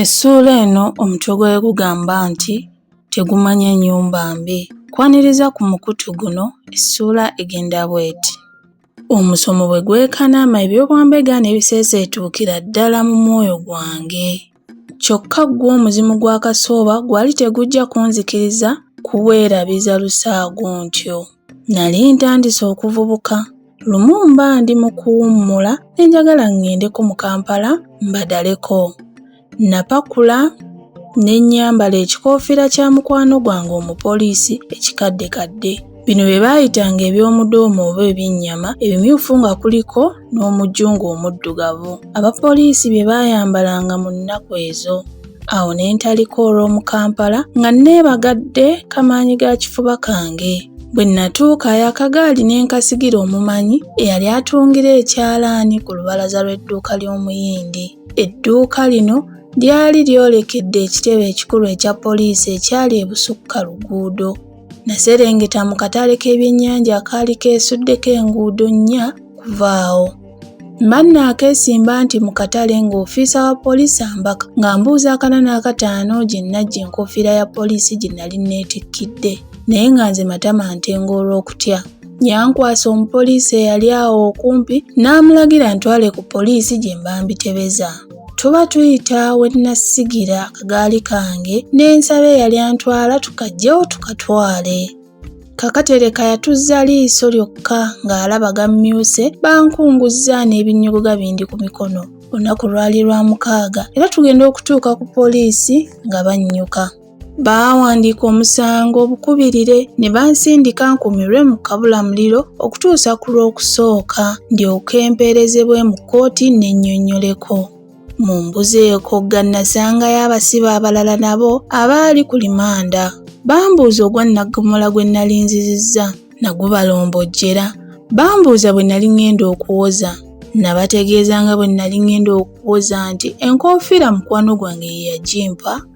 Essuula eno omutwe gwayo gugamba nti Tegumanya Ennyumba Mbi. Kwaniriza ku mukutu guno essuula egenda bw'eti. Omusomo bwe gwekanama eby'obwambega n'ebiseeseetuukira ddala mu mwoyo gwange. Kyokka ggwo omuzimu gwa Kasooba gwali tegujja kunzikiriza kuweerabiza lusaago ntyo. Nali ntandise okuvubuka. Lumu mba ndi mu kuwummula ne njagala ŋŋendeko mu Kampala mbadaleko. Napakula ne nnyambala ekikoofira kya mukwano gwange omupoliisi ekikaddekadde. Bino bye baayitanga eby'omudoomo oba ebyennyama ebimyufu nga kuliko n'omujungu omuddugavu abapoliisi bye baayambalanga mu nnaku ezo awo ne ntalika olw'omu kampala nga nneebagadde kamaanyi ga kifuba kange bwe nnatuuka yakagaali ne nkasigira omumanyi eyali atungira ekyalaani ku lubalaza lw'edduuka ly'omuyindi edduuka lino lyali lyolekedde ekitebe ekikulu ekya poliisi ekyali ebusukka luguudo Naserengeta mu katale k'ebyennyanja akaali keesuddeko enguudo nnya kuvaawo. Mbanna akeesimba nti mu katale ng'ofiisa wa poliisi ambaka ng'ambuuza akana n'akataano gye nnajja enkoofiira ya poliisi gye nali nneetikkidde naye nga nze matama ntenga olw'okutya. Yankwasa omupoliisi eyali awo okumpi n'amulagira ntwale ku poliisi gye mba mbitebeza. tuba tuyita we nnasigira akagaali kange n'ensaba eyali antwala tukajjewo tukatwale kakatereka yatuzza liiso lyokka ng'alaba gammyuse bankunguzza n'ebinnyogoga bindi ku mikono olunaku lwali lwa mukaaga era tugenda okutuuka ku poliisi nga bannyuka Baawandiika omusango obukubirire ne bansindika nkumirwe mu kabulamuliro okutuusa ku lw'okusooka ndyoke mpeerezebwe mu kkooti n'ennyonnyoleko. Mu mbuzi eyo Kogga nasangayo abasibe abalala nabo abaali ku limanda. Bambuuza ogwa nnaggomola gwe nnali nzizizza nagubalombojjera. Bambuuza bwe nali ng'enda okuwoza. Nabategeeza nga bwe nali ng'enda okuwoza nti enkoofiira mukwano gwange ye yagimpa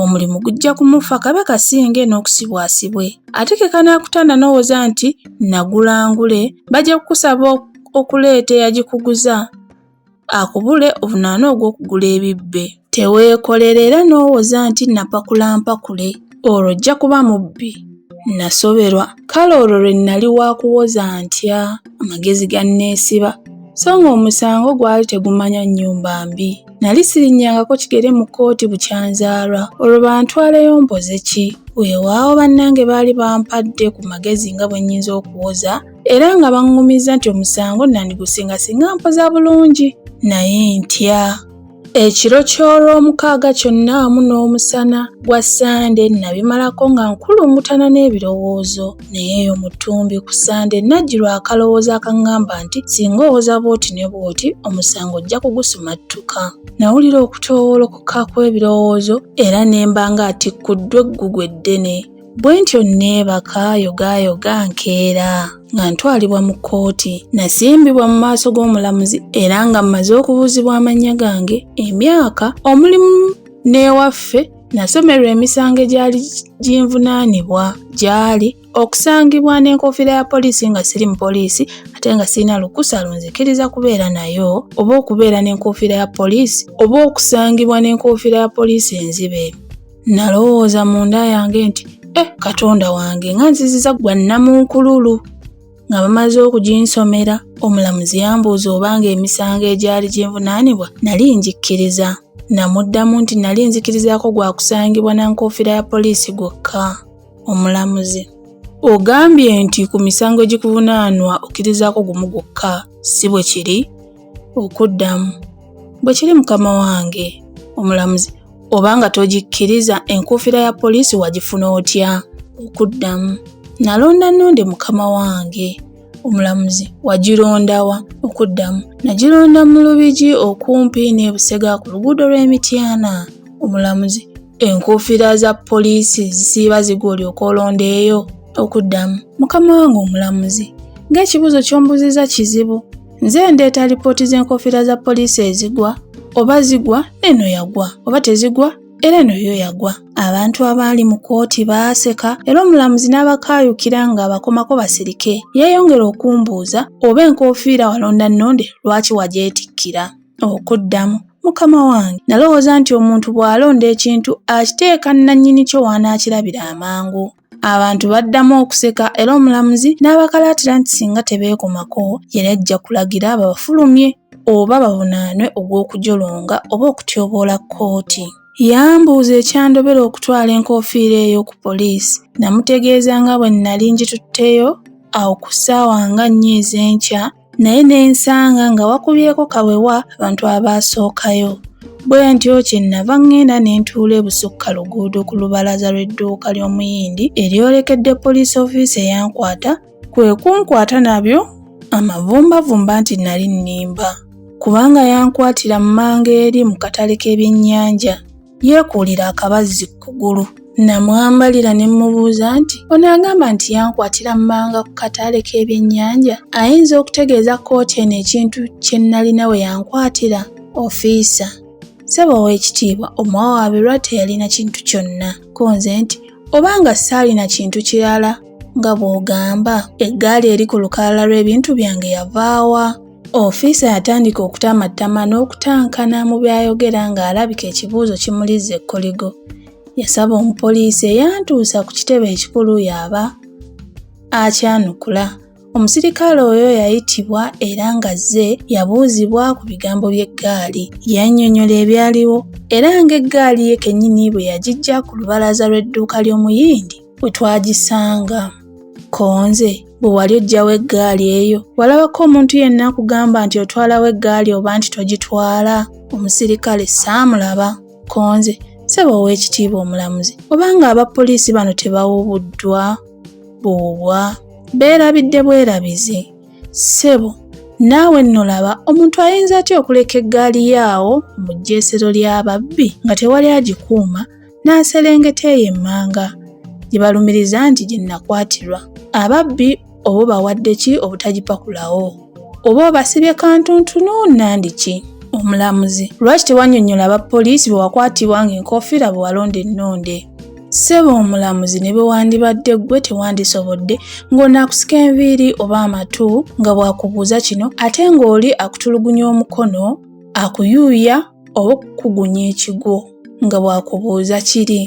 omulimu gujja kumufa kabe kasinge n'okusibwasibwe ate ke kanaakutanda n'owoza nti nagulangule bajja kukusaba okuleeta eyagikuguza akubule ovunaana ogw'okugula ebibbe teweekolera era n'owoza nti napakula mpakule olwo ojja kuba mubbi nasoberwa kale olwo lwe nnali waakuwoza ntya amagezi ganneesiba so ng'omusango gwali tegumanya nnyumba mbi Nali sirinnyangako kigere mu kkooti bukyanzaalwa, olwo bantwaleyo mpoze ki? Weewaawo bannange baali bampadde ku magezi nga bwe nnyinza okuwoza era nga baŋŋumizza nti omusango nandigusinga singa mpoza bulungi naye ntya. Ekiro ky'Olwomukaaga kyonna wamu n'omusana gwa Ssande nabimalako nga nkulungutana n'ebirowoozo. naye eyo mu ttumbi ku ssande najjirwa akalowoozo akaŋŋamba nti singa owoza bw'oti ne bw'oti omusango ojja kugusumattuka nawulira okutoowolokoka kw'ebirowoozo era ne mba ng'atikkuddwa eggugu eddene bwe ntyo nneebaka yogaayoga nkeera nga ntwalibwa mu kkooti nasimbibwa mu maaso g'omulamuzi era nga mmaze okubuuzibwa amannya gange emyaka omulimu n'ewaffe Nasomerwa emisango egyali ginvunaanibwa gyali okusangibwa n'enkofiira ya poliisi nga siri mu poliisi ate nga sirina lukusa lunzikiriza kubeera nayo oba okubeera n'enkofiira ya poliisi oba okusangibwa n'enkofiira ya poliisi enzibe. Nalowooza munda yange nti, eh Katonda wange nga nziziza gwa nnamunkululu! nga bamaze okuginsomera omulamuzi yambuuza obanga emisango egyali ginvunaanibwa nali ngikkiriza namuddamu nti nali nzikirizaako gwa kusangibwa na nkoofira ya poliisi gwokka omulamuzi ogambye nti ku misango egikuvunaanwa okkirizaako gumu gwokka si bwe kiri okuddamu bwe kiri mukama wange omulamuzi oba nga togikkiriza enkuufira ya poliisi wagifuna otya okuddamu nalonda nonde mukama wange omulamuzi wagirondawa okuddamu nagironda mu lubigi okumpi n'ebusega ku luguudo lw'emityana omulamuzi enkuufira za poliisi zisiiba ziga olyoka olondeeyo okuddamu mukama wange omulamuzi ng'ekibuuzo ky'ombuziza kizibu nze ndeeta lipooti z'enkofiira za poliisi ezigwa oba zigwa eno yagwa oba tezigwa era eno yo yagwa abantu abaali mu kkooti baaseka era omulamuzi n'abakaayukira ng'abakomako basirike yeeyongera okumbuuza oba enkofiira walonda nnonde lwaki wagyetikkira okuddamu mukama wange nalowooza nti omuntu bw'alonda ekintu akiteeka nnannyini kyo w'anaakirabira amangu Abantu baddamu okuseka era omulamuzi n'abakalaatira nti singa tebeekomako yali ajja kulagira babafulumye oba bavunaanwe ogw'okujolonga oba okutyoboola kkooti. Yambuuza ekyandobera okutwala enkofiira eyo ku poliisi namutegeeza nga bwe nnali ngitutteyo awo ku ssaawa nga nnya ez'enkya naye ne nsanga nga wakubyeko kawewa abantu abaasookayo bwe ntyo kye nnava ŋŋenda ne ntuula ebusukka luguudo ku lubalaza lw'edduuka ly'omuyindi eryolekedde poliisi ofiisi eyankwata kwe kunkwata nabyo amavumbavumba nti nali nnimba kubanga yankwatira mu manga eri mu katale k'ebyennyanja yeekuulira akabazzi ku kugulu. Namwambalira ne mmubuuza nti onaagamba nti yankwatira mmanga ku kataale k'ebyennyanja ayinza okutegeeza kkooti eno ekintu kye nnalina we yankwatira ofiisa ssebo ow'ekitiibwa omuwa wa birwa teyalina kintu kyonna ko nze nti oba nga saalina kintu kirala nga bw'ogamba eggaali eri ku lukalala lw'ebintu byange yavaawa Ofiisa yatandika okutamattama n'okutankana mu by'ayogera ng'alabika ekibuuzo kimulizza ekkoligo. Yasaba omupoliisi eyantuusa ku kitebe ekikulu y'aba akyanukula. Omusirikale oyo yayitibwa era ng'azze yabuuzibwa ku bigambo by'eggaali. Yannyonnyola ebyaliwo era ng'eggaali ye kennyini bwe yagiggya ku lubalaza lw'edduuka ly'Omuyindi we twagisanga konze bwe wali ojjawo eggaali eyo walabako omuntu yenna akugamba nti otwalawo eggaali oba nti togitwala omusirikale saamulaba konze saba ow'ekitiibwa omulamuzi obanga aba poliisi bano tebawubuddwa buwubwa beerabidde bwerabizi ssebo naawe nno laba omuntu ayinza atya okuleka eggaali yaawo mu jjeesero ly'ababbi nga tewali agikuuma n'aserengeta eyo emmanga gye balumiriza nti gye nakwatirwa ababbi oba bawadde ki obutagipakulawo oba obasibye kantuntunu nandi ki omulamuzi lwaki tewanyonyola aba poliisi bwe wakwatibwa ng'enkofiira bwe walonda ennonde ssebo omulamuzi ne bwe wandibadde ggwe tewandisobodde ng'onaakusika enviiri oba amatu nga bw'akubuuza kino ate ng'oli akutulugunya omukono akuyuuya oba okukugunya ekigwo nga bw'akubuuza kiri.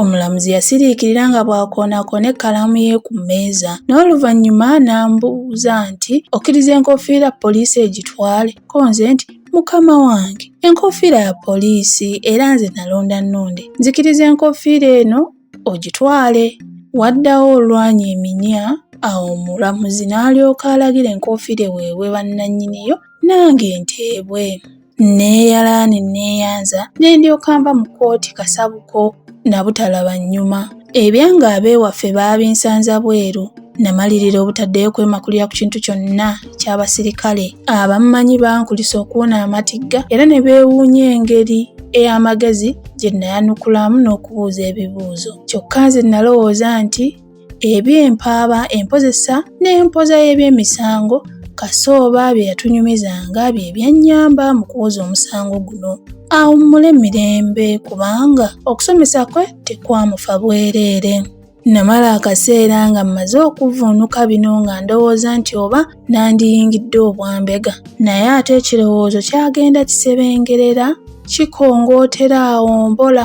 Omulamuzi yasiriikirira nga bw'akoonakoona ekkalaamu ye ku mmeeza n'oluvannyuma n'ambuuza nti okkiriza enkoofiira poliisi egitwale ko nze nti mukama wange enkoofiira ya poliisi era nze nalonda nnonde nzikiriza enkoofiira eno ogitwale waddawo olwanya eminya awo omulamuzi n'alyoka alagira enkoofiira eweebwe bannannyiniyo nange nteebwe nneeyalaani nneeyanza ne ndyoka nva mu kkooti kasabuko na butalaba nnyuma ebyanga abeewaffe baabinsanza bweru namalirira obutaddeyo kwemakulira ku kintu kyonna ky'abasirikale abammanyi bankulisa okuwona amatigga era ne beewuunya engeri ey'amagezi gye nayanukulamu n'okubuuza ebibuuzo kyokka nze nalowooza nti eby'empaaba empozesa n'empoza y'ebyemisango kasooba bye yatunyumizanga bye byannyamba mu kuwoza omusango guno awummule mirembe kubanga okusomesa kwe tekwamufa bwereere namala akaseera nga mmaze okuvvuunuka bino nga ndowooza nti oba nandiyingidde obwambega naye ate ekirowoozo kyagenda kisebengerera kikongootera awo mpola